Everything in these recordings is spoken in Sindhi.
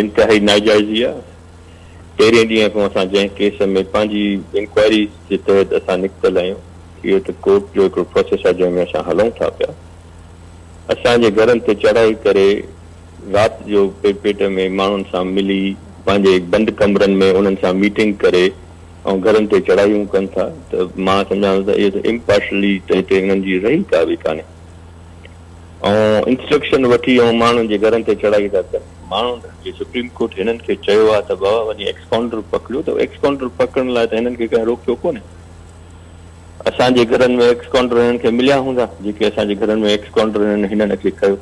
انتهائي ناجائزي آ، پهرين ڏينهن کان اسان جنهن ڪيس ۾ پنهنجي انڪوائري جي تحت اسان نڪتل آهيون اهو ته ڪورٽ جو هڪڙو پروسيس آ جنهن ۾ اسان هلون ٿا پيا اسان جي گهرن تي چڙهائي ڪري رات جو پي پيٽ ۾ ماڻهن سان ملي پنهنجي بند ڪمرن ۾ انهن سان ميٽنگ ڪري ۽ گهرن تي چڙهايون ڪن ٿا ته مان سمجهان ٿو ته اهو ته امپارشلي تي تي انهن جي رهي ڪا به ڪانهي آئون انسٽرڪشن وٺي آئون ماڻهن جي گهرن تي چڙهائي ٿا ڪن ماڻهن جي سپريم ڪورٽ هنن کي چيو آهي ته بابا وڃي ايڪس ڪائونٽر پڪڙيو ته ايڪس ڪائونٽر پڪڙڻ لاء ته هنن کي ڪنهن روڪيو ڪونهي اسان جي گهرن ۾ ايڪس ڪائونٽر هنن کي مليا هوندا جيڪي اسان جي گهرن ۾ ايڪس ڪائونٽر هنن هنن کي ڪيو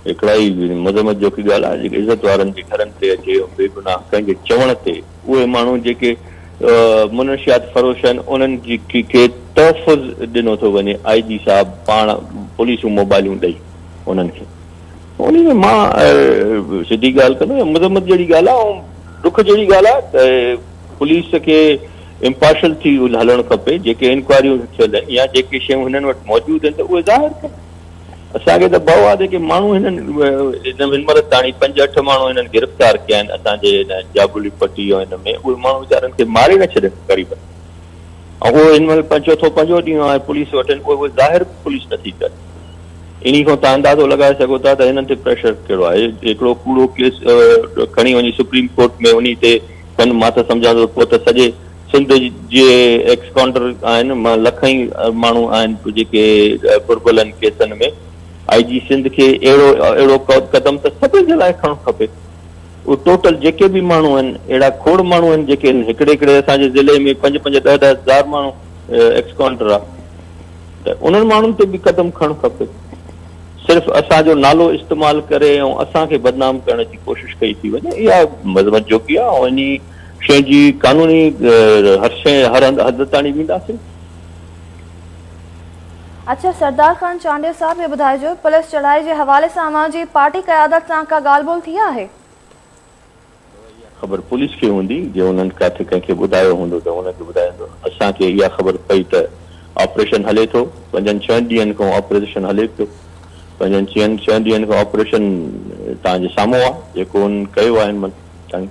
هڪڙائي مذمت جوڪي ڳالهه آهي جيڪي عزت وارن جي گهرن تي اچي بي گناهه ڪنهن جي چوڻ تي اهي ماڻهو جيڪي منشيات فروش آهن انهن کي تحفظ ڏنو ٿو وڃي آئي جي صاحب پاڻ پوليسون موبائلون ڏئي انهن کي انهي ۾ مان سڌي ڳالهه ڪندو يا مذمت جهڙي ڳالهه آهي ۽ ڏک جهڙي ڳالهه آهي ته پوليس کي امپارشل ٿي هلڻ کپي جيڪي انڪوائريون ٿيل يا جيڪي شيون هنن وٽ موجود آهن ته اهي ظاهر ڪن اسان کي ته ڀئو آ جيڪي ماڻهو هنن هن مهل تاڻي پنج اٺ ماڻهو هنن گرفتار ڪيا آهن اسان جي هن جابلي پٽي ۽ هن ۾ اهي ماڻهو ويچارن کي ماري نه ڇڏين غريبن کي ۽ اهو هن مهل چوٿو پنجو ڏينهن آهي پوليس وٽن اهي اهي ظاهر به پوليس نٿي ڪري انهي کان توهان اندازو لڳائي سگهو ٿا ته هنن تي پريشر ڪهڙو آهي هڪڙو ڪوڙو ڪيس کڻي وڃي سپريم ڪورٽ ۾ انهي تي ڪن مان ته سمجهان ٿو پوء ته سڄي سنڌ جي ايڪس ڪانڊر آهن مان لکين ماڻهو آهن جيڪي گهربلن ڪيسن ۾ آئي جي سنڌ کي اهڙو اهڙو قدم ته سڀني جي لاء کڻڻ کپي اهو ٽوٽل جيڪي به ماڻهو آهن اهڙا کوڙ ماڻهو آهن جيڪي هن هڪڙي هڪڙي اسان جي ضلعي ۾ پنج پنج ڏهه ڏهه هزار ماڻهو ايڪس ڪانڊر آهي ته انهن ماڻهن تي به قدم کڻڻ کپي صرف اسان جو نالو استعمال ڪري ۽ اسان کي بدنام ڪرڻ جي ڪوشش ڪئي ٿي وڃي اها مذمت جوڳي آهي ۽ انهي شين جي قانوني هر شين هر هنڌ حد تاڻي وينداسين. اڇا سردار خان چانڊيو صاحب هي ٻڌائجو پوليس چڙهائي جي حوالي سان اوهان جي پارٽي قيادت سان ڪا ڳالهه ٻولهه ٿي آهي؟ اها خبر پوليس کي هوندي جي انهن ڪاٿي ڪنهن کي ٻڌايو هوندو ته ان کي ٻڌائيندو اسان کي اها خبر پئي ته آپريشن هلي ٿو پنجن ڇهن ڏينهن کان آپريزشن هلي پيو پنجن ڇهن ڏينهن کان آپريشن توهان جي سامهون آهي جيڪو انهن ڪيو آهي هن مهل تائين.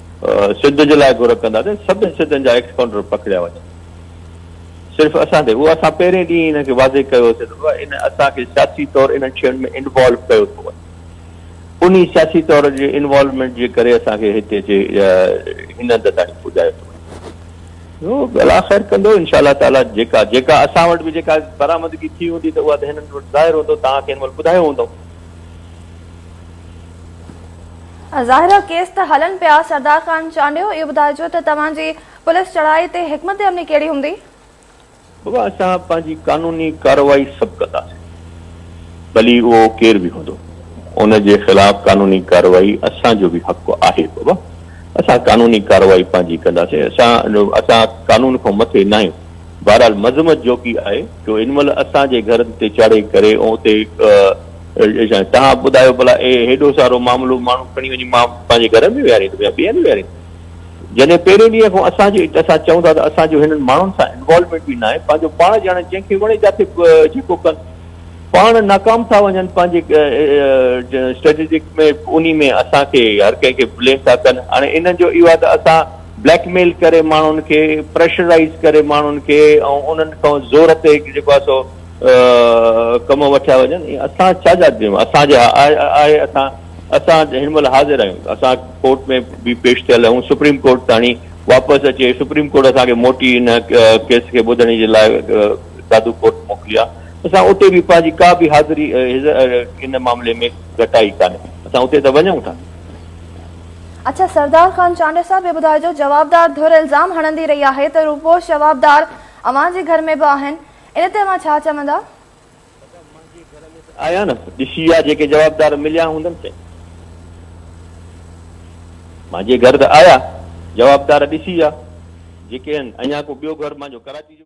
سڌ جي لاء گهر ڪنداسين سڀني سڌن جا ايڪس ڪائونٽر پکڙيا وڃن صرف اسان تي اهو اسان پهرين ڏينهن انهن کي واضح ڪيو هوسي ته بابا ان اسان کي سياسي طور انهن شين ۾ انوالو ڪيو ٿو وڃي انهي سياسي طور جي انوالومينٽ جي ڪري اسان کي هتي جي هن هنڌ تائين پڄايو ٿو وڃي جو الله خير ڪندو انشاء الله تعالي جيڪا جيڪا اسان وٽ به جيڪا برآمدگي ٿي هوندي ته اها ته هنن وٽ ظاهر هوندو توهان کي هن مهل ٻڌايو هوندو ظاهرا ڪيس ته هلن پيا. سردار خان چانڊيو اهو ٻڌائجو ته توهان جي پوليس چڙهائي تي حڪمت عملي ڪهڙي هوندي؟ بابا اسان پنهنجي قانوني ڪارروائي سڀ ڪنداسين ڀلي اهو ڪير به هوندو ان جي خلاف قانوني ڪارروائي اسان جو به حق آهي بابا اسان قانوني ڪارروائي پنهنجي ڪنداسين اسان اسان قانون کان مٿي ناهيون بهرحال مذمت جوڳي آهي جو هن مهل اسان جي گهرن تي چڙهي ڪري اتي شايد توهان ٻڌايو ڀلا اهي هيڏو سارو معاملو ماڻهو کڻي وڃي مان پنهنجي گهر ۾ ويهاريندم يا ٻيهر ويهاريندم جڏهن پهرين ڏينهن کان اسان جو اسان چئون ٿا ته اسان جو هنن ماڻهن سان انوالومينٽ به ناهي پنهنجو پاڻ ڄاڻن جنهن کي وڻي جاٿي جيڪو ڪن پاڻ ناڪام ٿا وڃن پنهنجي اسٽريٽجڪ ۾ انهي ۾ اسان کي هر ڪنهن کي بليم ٿا ڪن هاڻي انهن جو اهو آهي ته اسان بليڪ ميل ڪري ماڻهن کي پريشرائيز ڪري ماڻهن کي ۽ انهن کان زور تي جيڪو آهي سو ڪم وٺيا وڃن ۽ اسان ڇا جا ڏيون اسان جي آهي اسان اسان هن مهل حاضر آهيون ته اسان ڪورٽ ۾ به پيش ٿيل آهيون سپريم ڪورٽ تاڻي واپس اچي سپريم ڪورٽ اسان کي موٽي ان ڪيس کي ٻڌڻي جي لاء دادو ڪورٽ موڪلي آهي اسان اتي به پنهنجي ڪا به حاضري ان معاملي ۾ گهٽائي ڪانهي اسان اتي ته وڃون ٿا اڇا سردار خان چانڊيو صاحب هي ٻڌايو جو جوابدار ڌر الزام هڻندي رهي آهي ته روپوش جوابدار اوهان جي گهر ۾ به آهن ان تي اوهان ڇا چوندا؟ آيا نه ڏسي آ جيڪي جوابدار مليا هوندن سي مانجي گهر ته آيا جوابدار ڏسي آ جيڪي هن اڃا ڪو ٻيو گهر مانجو ڪراچي جو.